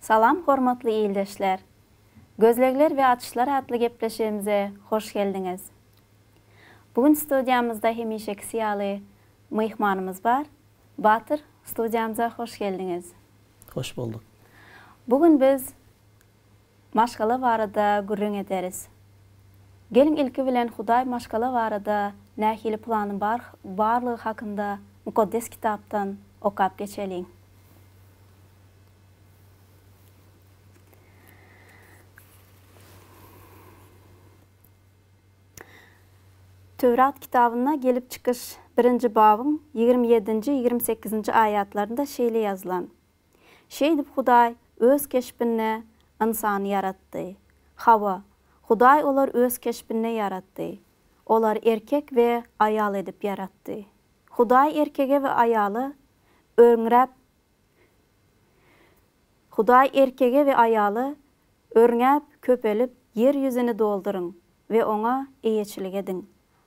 Salam hormatly ildeşler! Gözlegler we açyşlar atly gepleşigimize hoş geldiňiz! Bu gün studiýamyzda hemişekisi ýaly myhmanymyz bar. Batyr, studiýamyza hoş geldiňiz! Hoş bolduk! Bu gün biz Maşgala barada gürrüň ederis. Geliň ilki bilen Hudaý maşgala barada nähili plany bar barlygy hakynda Mukaddes Kitapdan okap geçeliň. Töwrat kitabynda Gelip çykyş birinji babyň ýigrimi ýedinji, ýigrimi sekizinji aýatlarynda şeýle ýazylan. Şeýdip Hudaý Öz keşbinde ynsany ýaratdy. Hawa, Hudaý olar Öz keşbinde ýaratdy. Olar erkek we aýal edip ýaratdy. Hudaý erkege we aýala örňräp Hudaý erkege we aýala, Örňäp, köpelip, ýer ýüzüni dolduryň we oňa eýeçilik ediň.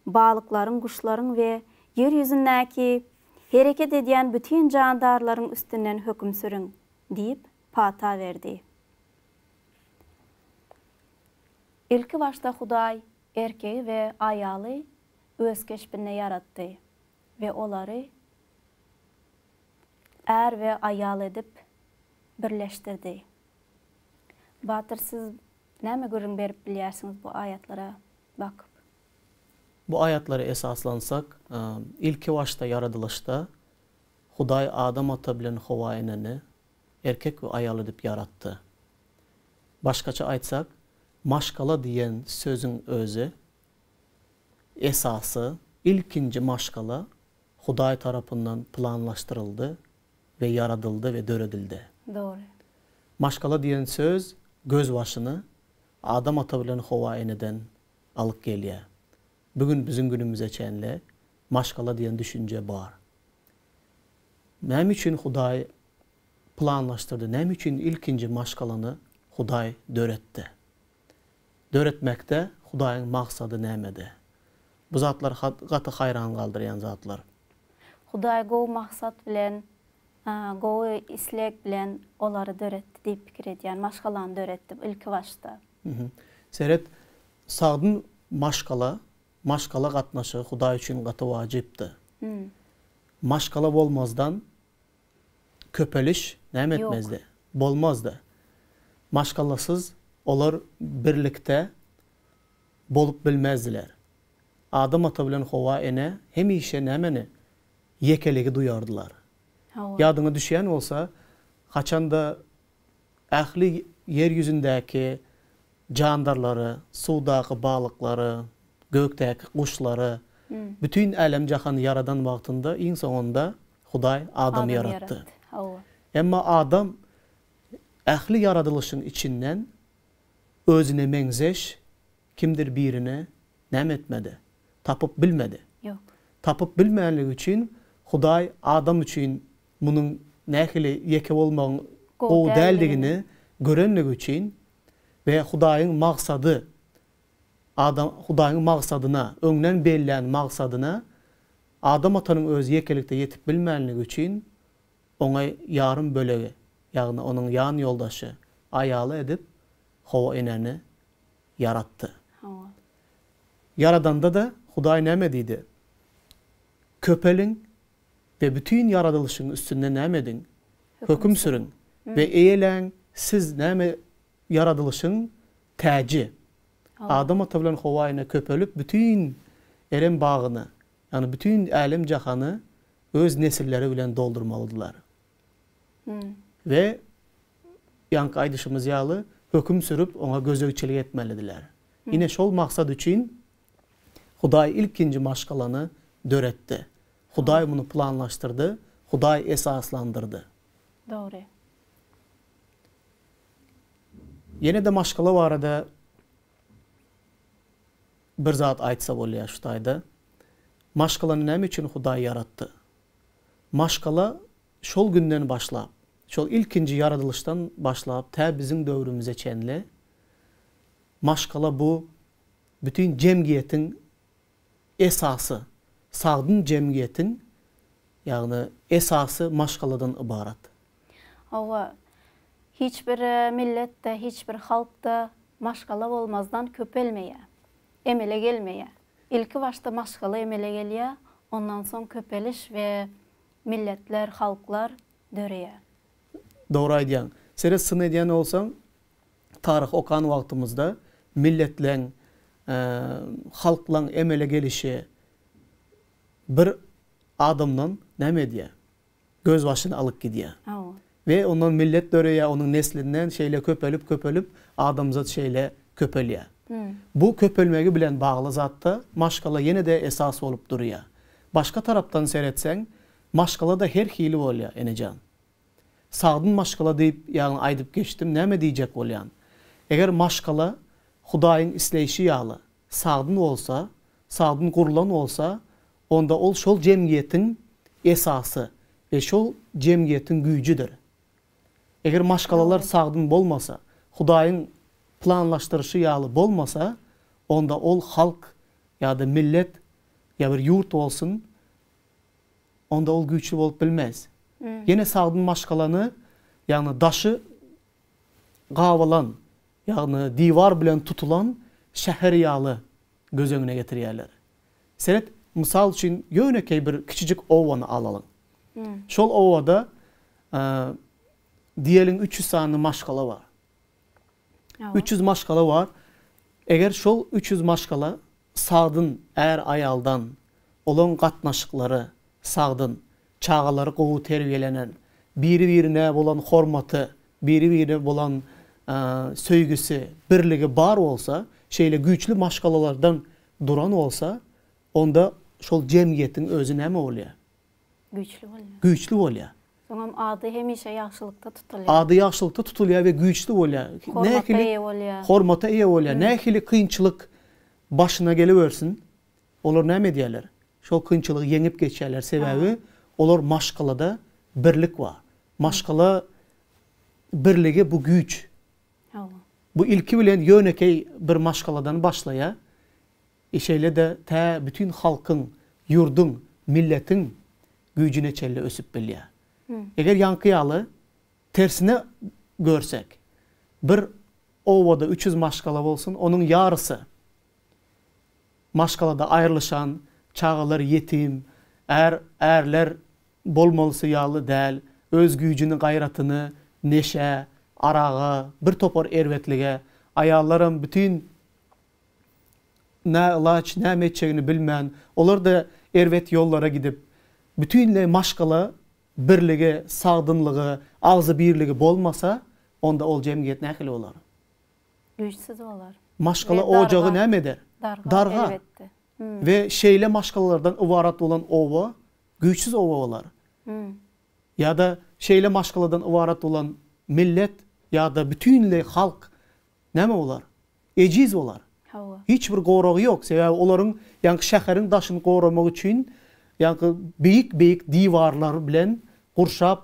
balyklaryň, guşlaryň we ýer ýüzündäki hereket edýän bütin jandarlaryň üstünden höküm sürüň! diýip, pata berdi. Ilki başda Hudaý erkegi we aýaly Öz keşbinde ýaratdy we olary är we aýal edip birleşdirdi. Batyr, siz Näme gürrüň berip bilýärsiňiz bu aýatlara bakyp? Bu aýatlara esaslansak, ilki başda ýaradylyşda Hudaý Adam ata bilen Howa eneni erkek we aýal edip ýaratdy. Başgaça aýtsak, maşgala diýen sözüň özi esasy, ilkinji maşgala Hudaý tarapyndan planlaşdyryldy we ýaradyldy we döredildi. Dogry. Maşgala diýen söz gözbaşyny Adam ata bilen Howa eneden alyp gelýär. Bu gün biziň günümize çenli maşgala diýen düşünje bar. Näme üçin Hudaý planlaşdyrdy? Näme üçin ilkinji maşgalany Hudaý döretdi? döretmekde Hudaýyň maksady nämede? Bu zatlar gaty haýran galdyrýan zatlar. Hudaý gowy maksat bilen, gowy isleg bilen olary döretdi diýip pikir edýän. Maşgalany döretdi ilkibaşda. Seret, sagdyn maşgala, maşgala gatnaşygy Hudaý üçin gaty wajypdy. Maşgala bolmazdan Köpeliş näme etmezdi? Bolmazdy. Maşgalasyz olar birlikde bolup bilmezdiler. Adam ata bilen Howa ene hemişe nämeni? Ýekeligi duýardylar. Ýadyňa düşýän bolsa, haçanda ähli ýer ýüzündäki jandarlary, suwdaky balyklary, gökdäki guşlary, bütin älem-jahany ýaradan wagtynda iň soňunda Hudaý adamy ýaratdy. Emma adam ähli ýaradylyşyň içinden özüne meňzeş kimdir birini näme etmedi? Tapyp bilmedi. Tapyp bilmänligi üçin Hudaý adam üçin munuň nähili ýeke bolmagyň gowy däldigini görenligi üçin we Hudaýyň maksady adam Hudaýyň maksadyna, öňden bellän maksadyna Adam atanyň özi ýekelikde ýetip bilmänligi üçin, oňa ýarym bölegi, ýagny onuň ýan ýoldaşy, aýaly edip Howa enäni ýaratdy. Hawa. Ýaradanda-da Hudaý näme diýdi? Köpeliň we bütin ýaradylyşyň üstünde näme ediň? Höküm sürüň we eýeläň, siz näme ýaradylyşyň täji. Adam ata bilen Howa ene köpelip, bütin Erem bagyny, ýagny bütin älem-jahany öz nesilleri bilen doldurmalydylar. We ýaňky aýdyşymyz ýaly, höküm sürüp, oňa gözegçilik etmelidiler. Ine, şol maksat üçin Hudaý ilkinji maşgalany döretdi. Hudaý muny planlaşdyrdy, Hudaý esaslandyrdy. Dogry. Ýene-de maşgala barada bir zat aýtsa bolýar şu taýda. Maşgalany näme üçin Hudaý ýaratdy? Maşgala şol günden başlap, şol ilkinji ýaradylyşdan başlap tä biziň döwrümize çenli maşgala bu bütin jemgyýetiň Esasy sagdyn jemgyýetiň, ýagny esasy maşgaladan ybarat. Hawa, hiç bir milletde, hiç bir halkda maşgala bolmazdan köpelmeýär, emele gelmeýär. Ilki başda maşgala emele gelýär, ondan soň köpeliş we milletler, halklar döreýär. Dogry aýdýaň. Seret syn edýän bolsaň, Taryh okan wagtymyzda milletleň, halklaň emele gelişi bir adamdan näme edýär? Gözbaşyny alyp gidýär. We ondan millet döreýär, onuň neslinden şeýle köpelip-köpelip adamzat şeýle köpelýär. Bu köpelmegi bilen bagly zatda maşgala ýene-de esas bolup durýar. Başga tarapdan seretseň, maşgala-da her hili bolýar, enejan. Sagdyn maşgala diýip ýagny aýdyp geçdim, näme diýjek bolýan? Eger maşgala Hudaýyň isleýşi ýaly sagdyn bolsa, sagdyn gurlan bolsa, onda ol şol jemgyýetiň esasy we şol jemgyýetiň güýjüdir. Eger maşgalalar sagdyn bolmasa, Hudaýyň planlaşdyryşy ýaly bolmasa, onda ol halk ýa-da millet, ýa bir ýurt bolsun, onda ol güýçli bolup bilmez. Ýene sagdyn maşgalany, ýagny daşy gabylan, ýagny diwar bilen tutulan şäher ýaly göz öňüne getirýärler. Seret, mysal üçin, ýönekeý bir kiçijik obany alalyň. Şol obada, diýeliň, üç ýüz sany maşgala bar. Üç ýüz maşgala bar. Eger şol üç ýüz maşgala sagdyn är-aýaldan, olaryň gatnaşyklary sagdyn, çagalary gowy terbiýelenen, biri-birine bolan hormaty, biri-birine bolan söýgüsi, birligi bar bolsa, şeýle güýçli maşgalalardan duran bolsa, onda şol jemgyýetiň özi näme bolýar? Güýçli bolýar. Güýçli bolýar. Soňam ady hemişe ýagşylykda tutulýar. Ady ýagşylykda tutulýar we güýçli bolýar. Hormata eýe bolýar. Hormata eýe bolýar. Nähili kynçylyk başyna geliwersin, olar näme edýärler? Şol kynçylygy ýeňip geçýärler. Sebäbi olar maşgalada birlik bar. Maşgala birligi bu güýç. Bu ilki bilen ýönekeý bir maşgaladan başlaýar. Şeýle-de tä bütin halkyň, ýurduň, milletiň güýjüne çenli ösüp bilýär. Eger ýaňky ýaly, tersine görsek, bir obada üç ýüz maşgala bolsun, onuň ýarysy maşgalada aýrylyşan, çagalar ýetim, är, ärler bolmalysy ýaly däl, öz güýjüni, gaýratyny neşä, araga, bir topar erbetlige, aýallaram bütin näylaç, näme etjegini bilmän, olar-da erbet ýollara gidip, bütinleý maşgala birligi, sagdynlygy, agzybirligi bolmasa, onda ol jemgyýet nähili bolar? Güýçsüz bolar. Maşgala ojagy näme eder? Dargar, elbetde. We şeýle maşgalalardan ybarat bolan oba güýçsüz oba bolar. Ýa-da şeýle maşgaladan ybarat bolan millet ýa-da bütinleý halk Näme bolar? Ejiz bolar. Hawa. Hiç bir goragy ýok, sebäbi olaryň ýaňky şäheriň daşyny goramak üçin ýaňky beýik-beýik diwarlar bilen gurşap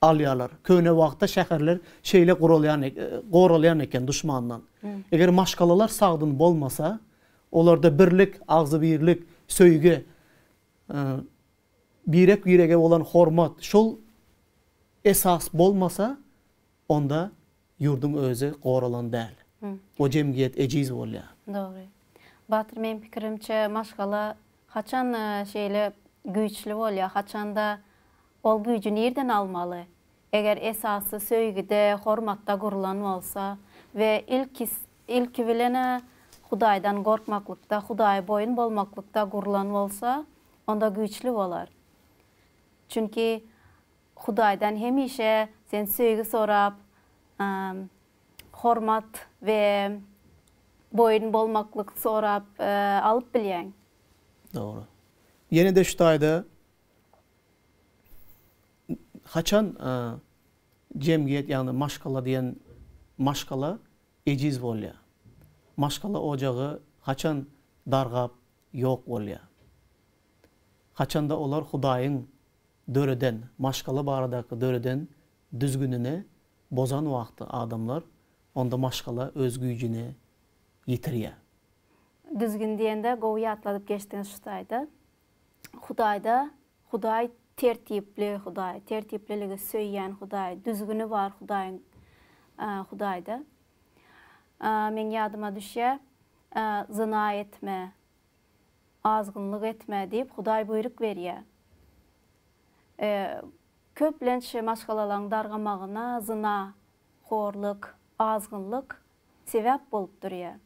alýarlar. Köne wagtda şäherler şeýle guralýan goralýan eken duşmandan. Eger maşgalalar sagdyn bolmasa, olarda birlik, agzybirlik, söýgi, birek-birege bolan hormat, şol esas bolmasa, onda Ýurduň özi goralan däl. O jemgyýet ejiz bolýar. Dogry. Batyr meň pikirimçe maşgala haçan şeýle güýçli bolýar, haçanda ol güýji nirden almaly? Eger esasy söýgide, hormatda gurlan bolsa we ilki ilki bilen-ä Hudaýdan gorkmaklykda, Hudaýa boýun bolmaklykda gurlan bolsa, onda güýçli bolar. Çünki Hudaýdan hemişe sen söýgi sorap, hormat we boýun bolmaklyk sorap alyp bilýäň. Dogry. Ýene-de şu taýda haçan jemgyýet, ýagny maşgala diýen maşgala ejiz bolýar? Maşgala ojagy haçan dargap ýok bolýar? Haçanda olar Hudaýyň döreden, maşgala baradaky döreden düzgünini bozan wagty adamlar, onda maşgala öz güýjüni ýitirýär. Düzgün diýende gowy ýatladyp geçdiňiz şu taýda. Hudaýda, Hudaý tertipli Hudaý, tertipliligi söýýän Hudaý, düzgüni bar Hudaýyň, Hudaýda. Meň ýadyma düşýär, zyna etme, Azgynlyk etme diýip Hudaý buýruk berýär. E, köplenç maşgalalaň dargamagyna zyna, horlyk, azgynlyk sebäp bolup durýar.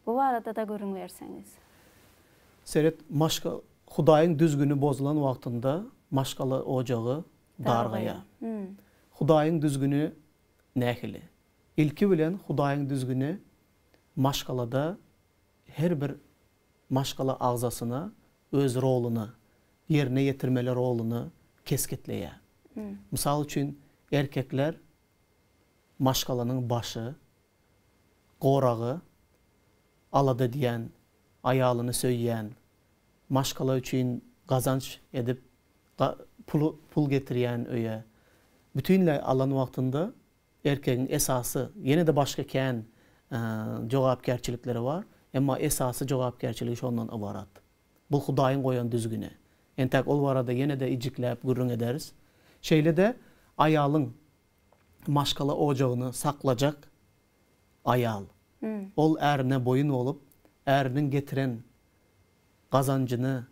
Bu barada-da gürrüň berseňiz. Seret, maşga, Hudaýyň düzgüni bozulan wagtynda maşgala ojagy dargaýar. Hudaýyň düzgüni nähili? Ilki bilen Hudaýyň düzgüni maşgalada. Her bir maşgala agzasyna öz roluny, ýerine ýetirmeli roluny kesgitleýär. Mysal üçin, erkekler maşgalanyň başy, goragy, alada edýän, aýalyny söýýän, maşgala üçin gazanç edip, pul getirýän öýe bütinleý alan wagtynda Erkegiň esasy, ýene-de başga kän jogapkärçilikleri bar, emma esasy jogapkärçiligi şondan ybarat. Bu Hudaýyň goýan düzgüni. Entäk ol barada ýene-de ijikläp gürrüň ederis. Şeýle-de aýalyň maşgala ojagyny saklajak aýal. Ol ärine boýun bolup, äriniň getiren gazanjyny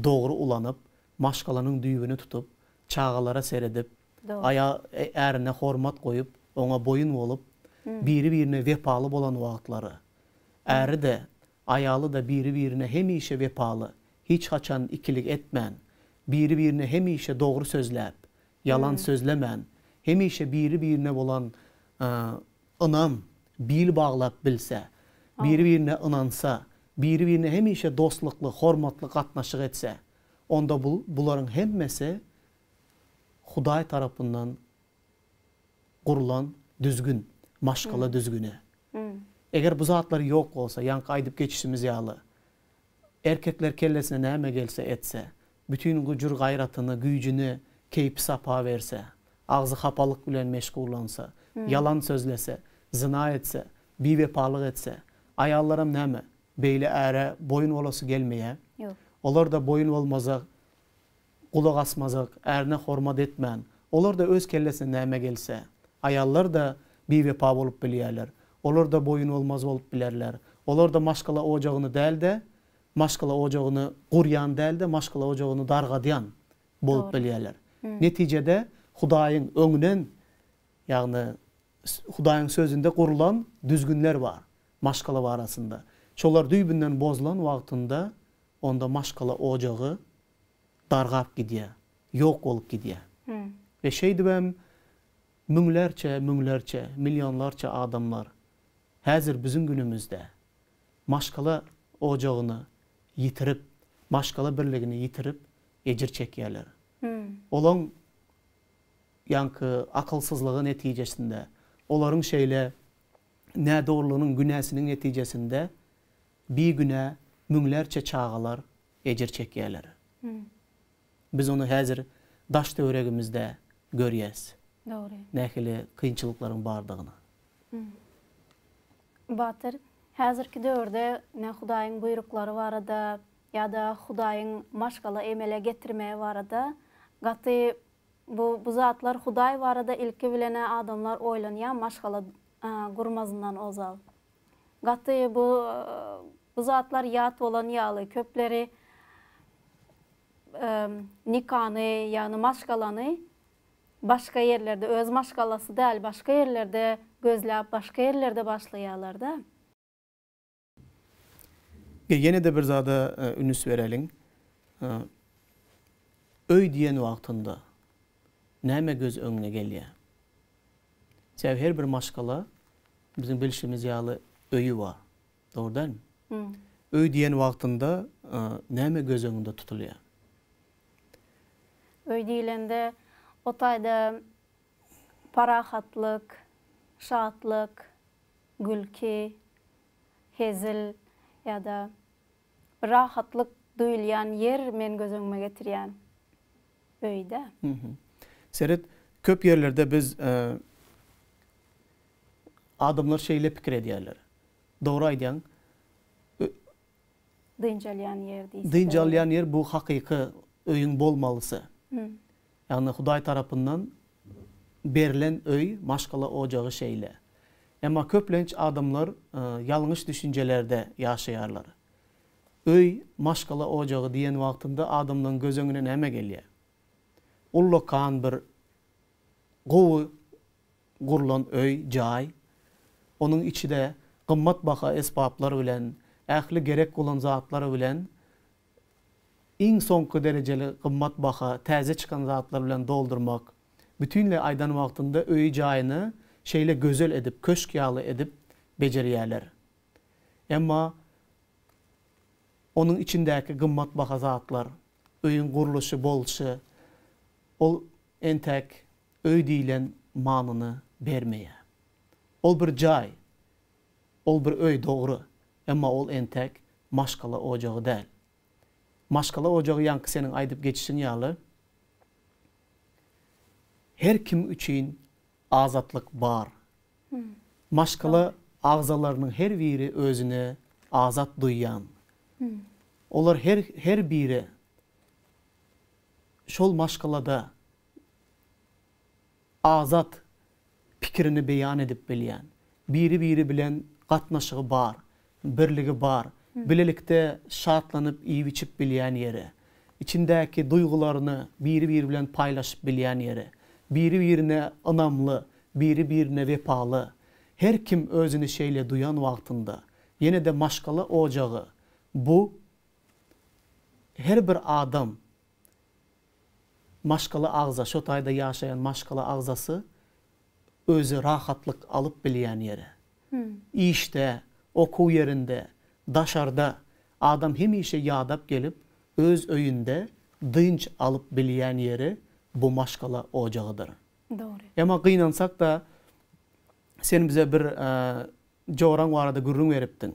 dogry ulanyp, maşgalanyň düýbüni tutup, çagalara seredip, aýa, ärine hormat goýup, oňa boýun bolup, biri-birine wepaly bolan wagtlary, äri-de, aýaly-da biri-birine hemişe wepaly, hiç haçan ikilik etmän, biri-birine hemişe dogry sözläp, ýalan sözlemän, hemişe biri-birine bolan Ynam, bil baglap bilse, biri-birine ynansa, biri-birine hemişe dostlukly, hormatly gatnaşyk etse, onda bu, bularyň hemmesi Hudaý tarapyndan gurlan düzgün, maşgala düzgüni. Eger bu zatlar ýok bolsa, ýaňky aýdyp geçişimiz ýaly, erkekler kellesine näme gelse etse, bütin güjür-gaýratyny, güýjüni keýpi-sapa berse, agzy hapalyk bilen meşgullansa, ýalan sözlese, zyna etse, biwepalyk etse, aýallaram näme, beýle äre boýun bolasy gelmeýä? Ýok. Olar-da boýun bolmazak, gulak asmazak, ärine hormat etmän, olar-da öz kellesine näme gelse, aýallar-da biwepa bolup bilýärler, olar-da boýun bolmaz bolup bilerler, olar-da maşgala ojagyny däl-de, maşgala ojagyny gurýan däl-de, maşgala ojagyny dargadýan bolup bilýärler. Netijede, Hudaýyň öňünden, ýagny Hudaýyň Sözünde gurulan düzgünler bar maşgala barasynda. Şolar düýbünden bozulan wagtynda, onda maşgala ojagy dargap gidýär, ýok bolup gidýär. We şeýdibem müňlerçe, müňlerçe, millionlarça adamlar häzir biziň günümizde maşgala ojagyny ýitirip, maşgala birligini ýitirip ejir çekýärler. Olaň ýaňky akylsyzlygy netijesinde, olaryň şeýle nädogrulygynyň günäsiniň netijesinde bigünä müňlerçe çagalar ejir çekýärler. Biz ony häzir daş-töweregimizde görýäs. Dogry. Nähili kynçylyklaryň bardygyny. Batyr, häzirki döwürde ine Hudaýyň buýruklary barada ýa-da Hudaýyň maşgala emele getirmegi barada gaty bu bu zatlar Hudaý barada ilki bilen-ä adamlar oýlanýar maşgala gurmazyndan ozal. Gaty bu bu zatlar ýat bolan ýaly köpleri nikany ýagny maşgalany başga ýerlerde öz maşgalasy däl başga ýerlerde gözläp başga ýerlerde başlaýalarda. Be ýenede bir zada ünüs bereliň öý diýen wagtynda näme göz öňüne gelýär? Sebäbi her bir maşgala biziň bilşimiz ýaly öýi bar. Dogry dälmi? Öý diýen wagtynda näme göz öňünde tutulýar? Öý diýlende o taýda parahatlyk, şatlyk, gülki, hezil ýa-da Bir rahatlyk duýulýan ýer men göz öňüme getirýän öýdä. Seret, köp ýerlerde biz adamlar şeýle pikir edýärler. Dogry aýdýaň. Dynç alýan ýer diýseler. Dynç alýan ýer bu hakyky öýüň bolmalysy. Ýagny Hudaý tarapyndan berlen öý, maşgala ojagy şeýle. Emma köplenç adamlar ýalňyş düşünjelerde ýaşaýarlar. Öý, maşgala ojagy diýen wagtynda adamlaryň göz öňüne näme gelýär? Ullakan bir gowy gurlan öý, jaý. Onuň içi-de gymmatbaha esbaplar bilen, ähli gerek bolan zatlar bilen iň soňky derejeli gymmat baha täze çykan zatlar bilen doldurmak, bütinleý aýdan wagtynda öýi-jaýyny şeýle gözel edip, köşk ýaly edip bejerýärler. Emma onuň içindäki gymmat baha zatlar, öýüň gurluşy, bolşy, ol entäk öý diýlen manyny bermeýär. Ol bir jaý. Ol bir öý dogry, emma ol entäk maşgala ojagy däl. Maşgala ojagy ýaňky seniň aýdyp geçişiň ýaly her kim üçin azatlyk bar. Maşgala agzalarynyň her biri özüne azat duýýan. Olar her her biri şol maşgalada Azat pikirini beýan edip bilýän, biri-biri bilen gatnaşygy bar, birligi bar, bilelikde şatlanyp iýip-içip bilýän ýeri, içindäki duýgularyny biri-biri bilen paýlaşyp bilýän ýeri, biri-birine ynamly, biri-birine wepaly, her kim özüni şeýle duýan wagtynda, ýene-de maşgala ojagy, bu her bir adam Maşgala agza, şo taýda ýaşaýan maşgala agzasy özi rahatlyk alyp bilýän ýeri. Işde, okuw ýerinde, daşarda adam hemişe ýadap gelip, öz öýünde dynç alyp bilýän ýeri bu maşgala ojagydyr. Dogry. Emma gynansak-da, sen bize bir joraň barada gürrüň beripdiň.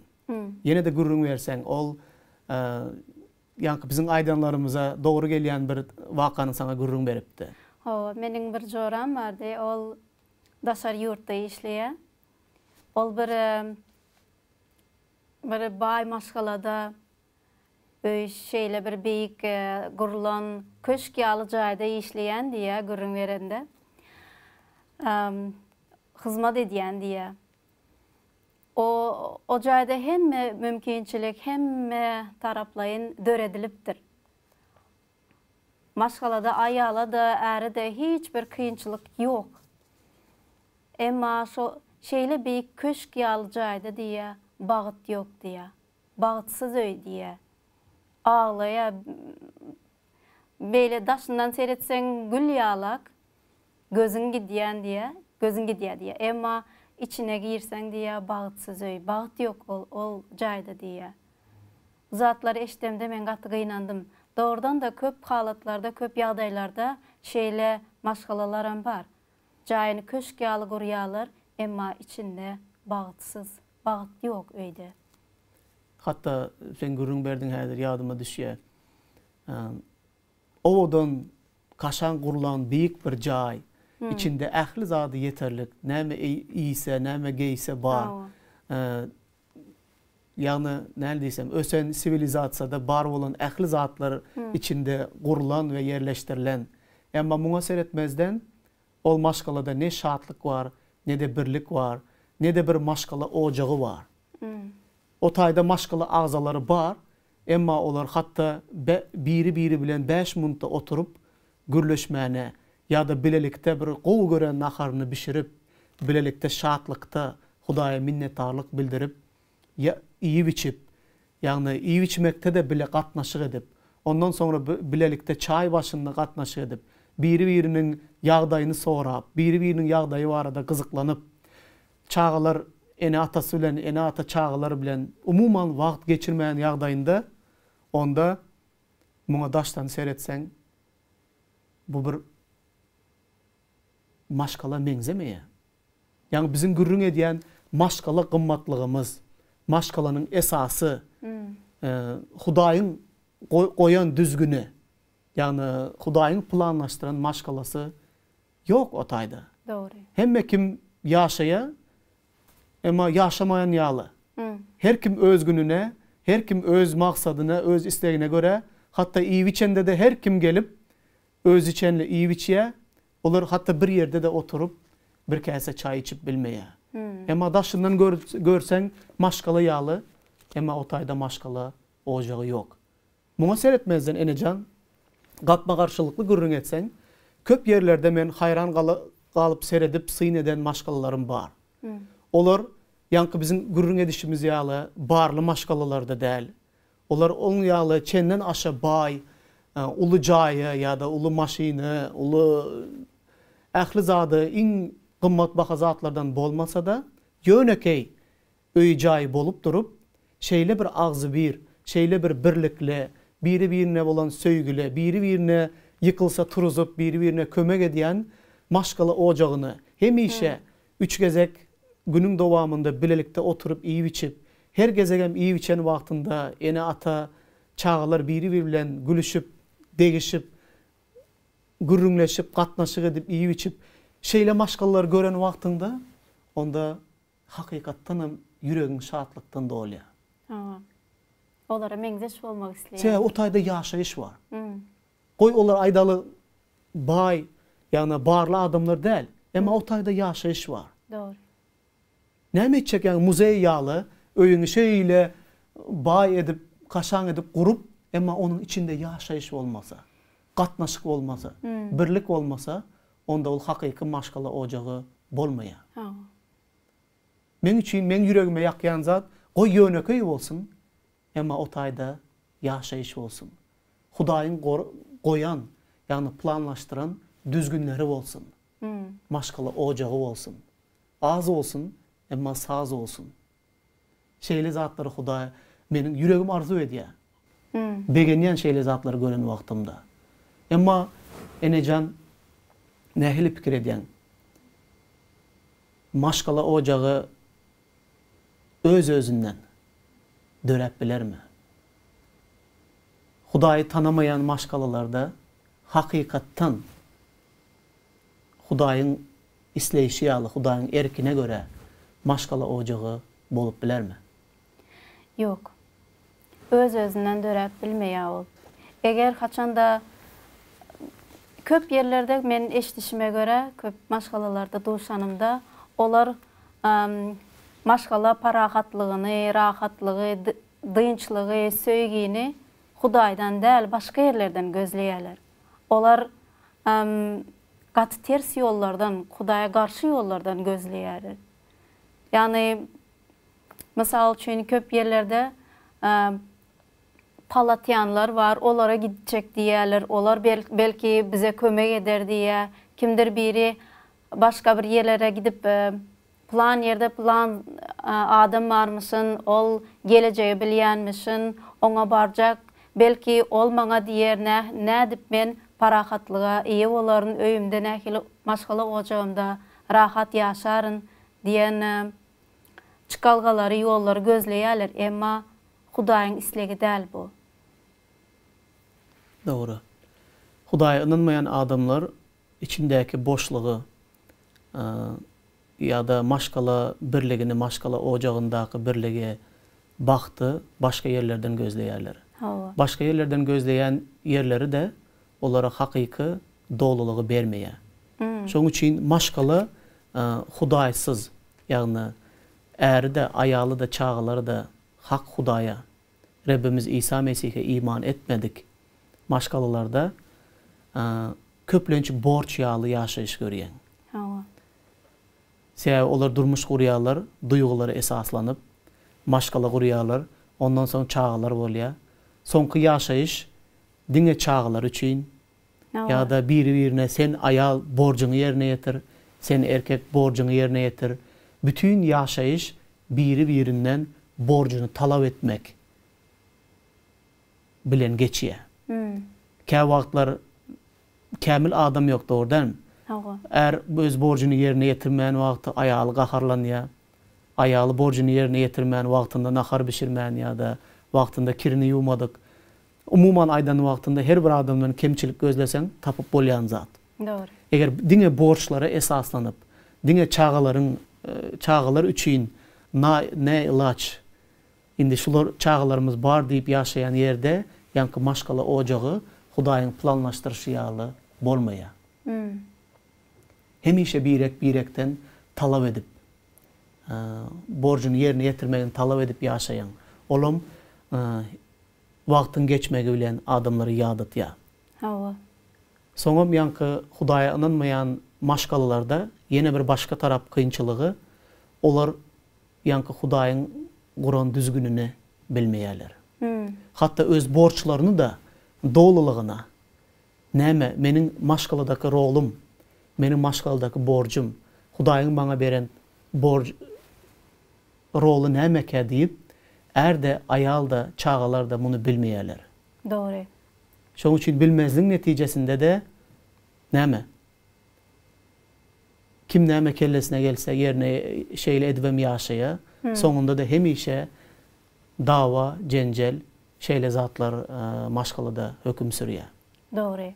Ýene-de gürrüň berseň, ol Ýaňky biziň aýdanlarymyza dogry gelýän bir wakany saňa gürrüň beripdi. Hawa, meniň bir joram bardy. Ol daşary ýurtda işleýär. Ol bir bir baý maşgalada öý şeýle bir beýik gurlan köşk ýaly jaýda işleýän diýýär gürrüň berende. Hyzmat edýän diýýär. O jaýda hemme mümkinçilik hemme taraplaýyn döredilipdir. Maşgalada aýala-da, äre-de hiç bir kynçylyk ýok. Emma şo şeýle beýik köşk ýaly jaýda diýýä, bagt ýok diýýä. Bagtsyz öý diýýä. Aglaýa Beýle daşyndan seretseň gül ýalak, gözüň gidýän diýä, gözüň gidýä diýä. Emma içine girseň diýä bagtsyz öý, bagt ýok ol, ol jaýda diýä. Bu zatlary eşidemde men gaty gynandym. Dogrudan-da köp halatlarda, köp ýagdaýlarda şeýle maşgalalaram bar. Jaýyny köşk ýaly gurýarlar, emma içinde bagtsyz. Bagt ýok öýde. Hatda sen gürrüň berdiň häzir ýadyma düşýär. Owadan, kaşaň gurlan beýik bir jaý. Içinde ähli zady ýeterlik. Näme iýse, näme geýse bar. Ýagny näl diýsem, ösen siwilizasiýada bar bolan ähli zatlar içinde gurlan we ýerleşdirilen. Emma muňa seretmezden, Ol maşgalada ne şatlyk bar, ne-de birlik bar, ne-de bir maşgala ojagy bar. O taýda maşgala agzalary bar, emma olar hatda biri-biri bilen bäş munta oturyp gürleşmäne ýa-da bilelikde bir gowy gören naharyny bişirip, bilelikde şatlykda Hudaýa minnetdarlyk bildirip, Ýa iýip-içip, ýagny iýip-içmekde-de bile gatnaşyk edip, ondan soňra bilelikde çaý başynda gatnaşyk edip, biri-biriniň ýagdaýyny sorap, biri-biriniň ýagdaýy barada gyzyklanyp, çagalar ene-atasy bilen, ene-ata çagalar bilen umuman wagt geçirmän ýagdaýynda, onda muňa daşdan seretseň, bu bir maşgala meňzemeýär. Ýagny biziň gürrüň edýän maşgala gymmatlygymyz, maşgalanyň esasy Hudaýyň goýan düzgüni, ýagny Hudaýyň planlaşdyran maşgalasy ýok o taýda. Dogry. Hemme kim ýaşaýa, emma ýaşamaýan ýaly. Her kim öz gününe, her kim öz maksadyna, öz islegine görä, hatda iýip-içende-de her kim gelip, özüçenli iýip-içýä, Olar hatda bir ýerde-de oturyp, bir käse çaý içip bilmeýär. Emma daşyndan görseň maşgala ýaly, emma o taýda maşgala ojagy ýok. Muňa seretmezden Enejan, gapma-garşylykly gürrüň etseň, köp ýerlerde men haýran galyp seredip syn eden maşgalalarym bar. Olar, ýaňky biziň gürrüň edişimiz ýaly, barly maşgalalar-da däl, Olar oň ýaly çenden aşa baý, uly jaýa ýa-da uly maşyna, uly ähli zada iň gymmatbaha zatlardan bolmasa-da, ýönekeý öýi-jaýy bolup durup, şeýle bir agzybir, şeýle bir birlikli, biri-birine bolan söýgüli, biri-birine ýykylsa turuzyp, biri-birine kömek edýän maşgala ojagyny hemişe Üç gezek günüň dowamynda bilelikde oturyp iýip-içip, her gezegem iýip-içen wagtynda ene-ata, çagalar biri-biri bilen gülüşip, degişip, gürrüňleşip, gatnaşyk edip, iýip-içip, şeýle maşgalalary gören wagtyňda, onda hakykatdanam ýüregiň şatlykdan dolýar. Hawa. Olara meňzeş bolmak isleýär. Sebäbi o taýda ýaşaýyş bar. Goý olar aýdaly baý, ýagny barly adamlar däl, emma o taýda ýaşaýyş bar. Dogry. Näme etjek ýaňy muzeý ýaly öýüňi şeýle baý edip, kaşaň edip gurup, emma onuň içinde ýaşaýyş bolmasa, gatnaşyk bolmasa, birlik bolmasa, onda ol hakyky maşgala ojagy bolmaýar. Hawa. Meň üçin, meň ýüregime ýakýan zat, goý ýönekeý bolsun, Emma o taýda ýaşaýyş bolsun. Hudaýyň goýan, ýagny planlaşdyran düzgünleri bolsun. Maşgala ojagy bolsun. Az bolsun, emma saz bolsun. Şeýle zatlary Hudaý, meniň ýüregim arzuw edýär. Begenýän şeýle zatlary gören wagtymda. Emma, enejan, nähili pikir edýäň? Maşgala ojagy. öz-özünden döräp bilermi? Hudaýy tanamaýan maşgalalarda hakykatdan Hudaýyň isleýşi ýaly, Hudaýyň erkine görä maşgala ojagy bolup bilermi? Ýok. öz-özünden döräp bilmeýär ol. Eger haçanda köp ýerlerde men eşidişime görä, köp maşgalalarda duşanymda, olar maşgala parahatlygyny, rahatlygy, dynçlygy, söýgini Hudaýdan däl, başga ýerlerden gözleýärler. Olar gaty ters ýollardan, Hudaýa garşy ýollardan gözleýärler. Ýagny, Mysal üçin, köp ýerlerde palatýanlar bar, olara gitjek diýýärler, olar belki bize kömek eder diýýär. Kimdir biri başga bir ýerlere gidip, Pylan ýerde pylan adam barmyşyn, ol gelejegi bilýänmişin, oňa barjak, belki ol maňa diýer, nädip men parahatlyga eýe bolaryn, öýümde nähili maşgala ojagymda rahat ýaşaryn diýen Çykalgalary, ýollary gözleýärler, emma Hudaýyň islegi däl bu. Dogry. Hudaýa ynanmaýan adamlar içindäki boşlugy ýa-da maşgala birligini, maşgala ojagyndaky birligi, bagty başga ýerlerden gözleýärler. Hawa. Başga ýerlerden gözleýän ýerleri-de olara hakyky dolulygy bermeýär. Şonuň üçin maşgala Hudaýsyz, Ýagny, äri-de, aýaly-da, çagalary-da hak Hudaýa, Rebbimiz Isa Mesihe iman etmedik maşgalalarda köplenç borç ýaly ýaşaýyş görýäň. Hawa. Sebäbi olar durmuş gurýarlar, duýgulara esaslanyp, maşgala gurýarlar, ondan soň çagalar bolýar. Soňky ýaşaýyş diňe çagalar üçin, Ýa-da biri-birine sen aýal borjuňy ýerine ýetir, sen erkek borjuňy ýerine ýetir. Bütin ýaşaýyş biri-birinden borjuny talap etmek bilen geçýär. Kä wagtlar kämil adam ýok dogry dälmi? Är öz borjuny ýerine ýetirmän wagty aýaly gaharlanýar. Aýaly borjuny ýerine ýetirmän wagtynda nahar bişirmän ýa-da wagtynda kirini ýuwmadyk Umuman aýdan wagtynda her bir adamdan kemçilik gözleseň tapyp bolýan zat. Dogry. Eger diňe borçlara esaslanyp, diňe çagalaryň çagalar üçin naý ne ilaç indi şular çagalarymyz bar diýip ýaşaýan ýerde ýaňky maşgala ojagy Hudaýyň planlaşdyryşy ýaly bolmaýar. Hemişe birek birekden talap edip borjuny ýerine ýetirmegini talap edip ýaşaýan olam Wagtyň geçmegi bilen adamlary ýadatýar. Hawa. Soňam ýaňky Hudaýa ynanmaýan maşgalalarda ýene bir başga tarap kynçylygy, olar ýaňky Hudaýyň guran düzgünini bilmeýärler. Hatda öz borçlaryny-da dolulygyna, näme, meniň maşgaladaky rolum, meniň maşgaladaky borjum, Hudaýyň maňa beren borj. roly nämekä diýip, är-de, aýal-da, çagalar-da muny bilmeýärler. Dogry. Şonuň üçin bilmezligiň netijesinde-de näme? Kim näme kellesine gelse, ýerine şeýle edibem ýaşaýar. Soňunda-da hemişe dawa, jenjel, şeýle zatlar maşgalada höküm sürýär. Dogry.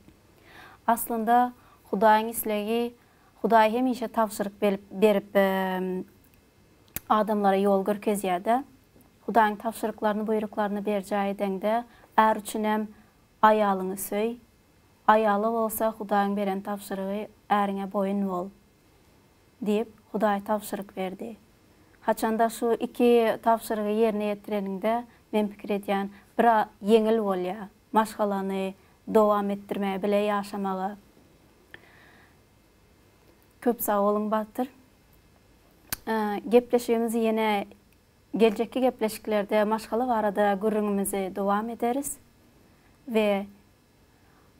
Aslynda, Hudaýyň islegi Hudaý hemişe tabşyryk berip adamlara ýol görkezýärde. Hudaýyň tabşyryklaryny, buýruklaryny berjaý edeňde, är üçin hem aýalyňy söý, aýala bolsa Hudaýyň beren tabşyrygy äriňe boýun bol diýip, Hudaý tabşyryk berdi. Haçanda şu iki tabşyrygy ýerine ýetireniňde, men pikir edýän, biraz ýeňil bolýar maşgalany dowam etdirmäge, bile ýaşamaga. Köp sag boluň Bagtyr. Gepleşigimizi ýene geljekki gepleşiklerde maşgala barada gürrüňimizi dowam ederis we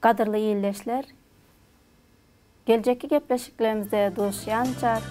gadyrly ildeşler geljekki gepleşiklerimizde duşýança